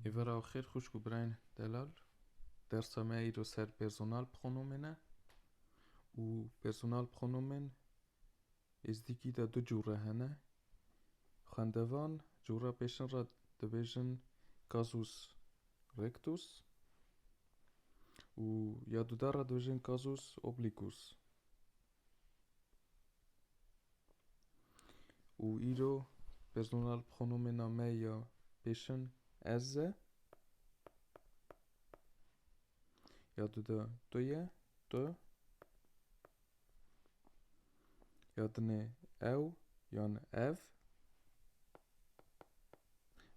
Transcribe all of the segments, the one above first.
Îvara û xêr xwişk û birayên delal, dersa me îro ser personal bi xonûmê ne û personal bi xonûmên Êzdîgî de du cûre hene. Xwendevan cûra pêşin re dibêjin casus rectus û ya duda re dibêjin casus obliquus. û îro personal pronomêna me ya pêşin ez e ya di de tu ye tu ya dinê ew yan ev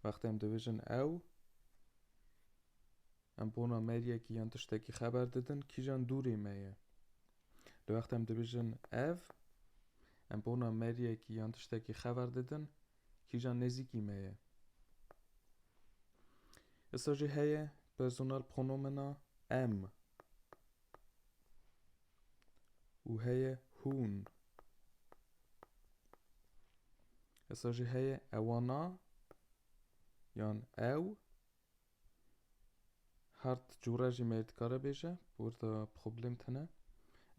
wextê em dibêjin ew Em bona me yekî yan tiştekî xeber didin kîjan dûrê me ye. Di wexta em dibêjin ev, em bona me yekî yan tiştekî xeber didin kîjan nêzîkî me ye. Îsa jî heye personal pronomena em û heye hûn. Îsa jî heye ewana yan ew Hard cûra jî me dikare bêje, burada problem tune.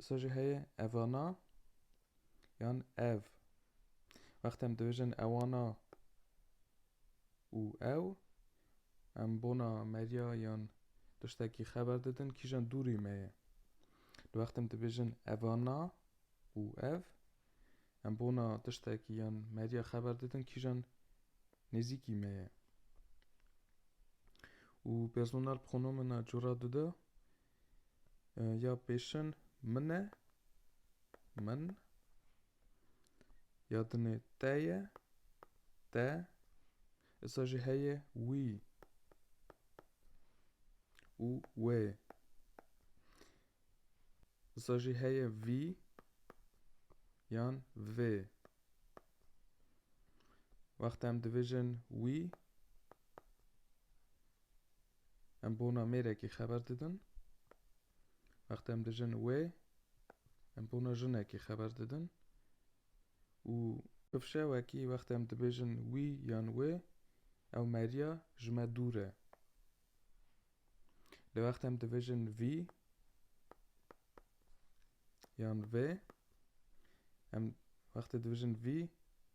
Îsa jî heye evana yan ev. Wextê em dibêjin ewana û ew, em bona merya yan tiştekî xeber didin kîjan dûrî me ye. Di wextê em dibêjin evana û ev, Em bona tiştekî yan medya xeber didin kîjan nêzîkî me ye. Û personal pronomena cora dide ya pêşin min e, min, ya dinê te ye, te, îsa jî heye wî û wê. Wisa jî heye vî yan vê. Wexta em dibêjin wî em bona mêrekî xeber didin. Wexta em dijin wê em bona jinekî xeber didin. û Pifşewekî wexta em dibêjin wî yan wê ew meriya ji me dûr e. Li wext em dibêjin vî yan vê em wextê dibêjin vî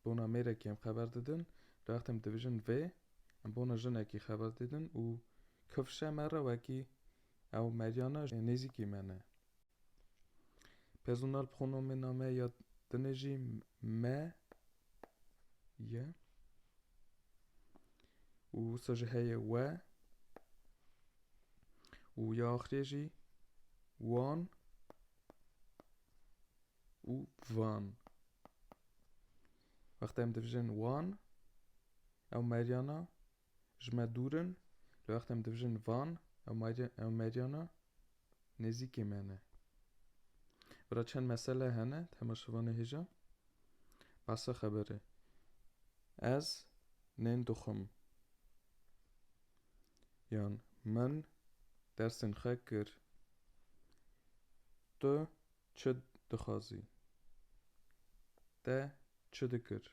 bona mêrekî em xeber didin li wext em dibêjin vê em bona jinekî xeber didin û kifşe me re wekî ew meryana nêzîkî me ne. Personal pronomê name ya tine jî me ye û wisa jî heye we û ya axirê jî wan û van. Wexta em divijin wan ew meryana Ji me dûr in, li wextê em dibijin van, ew meryana nêzîkê me ne. Bira çend mesele hene temaşevanê hêja behsa xeberê. Ez nên dixwim. Yan min dersên xwe kir. Tu Çi dixwazî? Te çi dikir?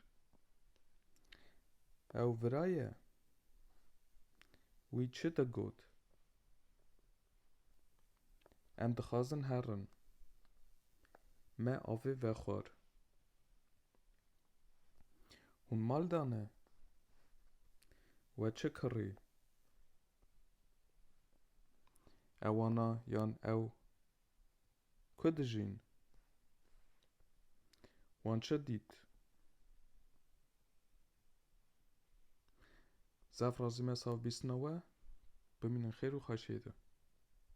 Ew viraye? Wî çi te got? Em dixwazin herin. Me avê vexwar. Hûn mal de ne? We çi kirî? Ewana yan ew Ku dijîn? Wan çi dît? Zaf razî me saf bîstina we. Bimînin xêr û xweşiyê de.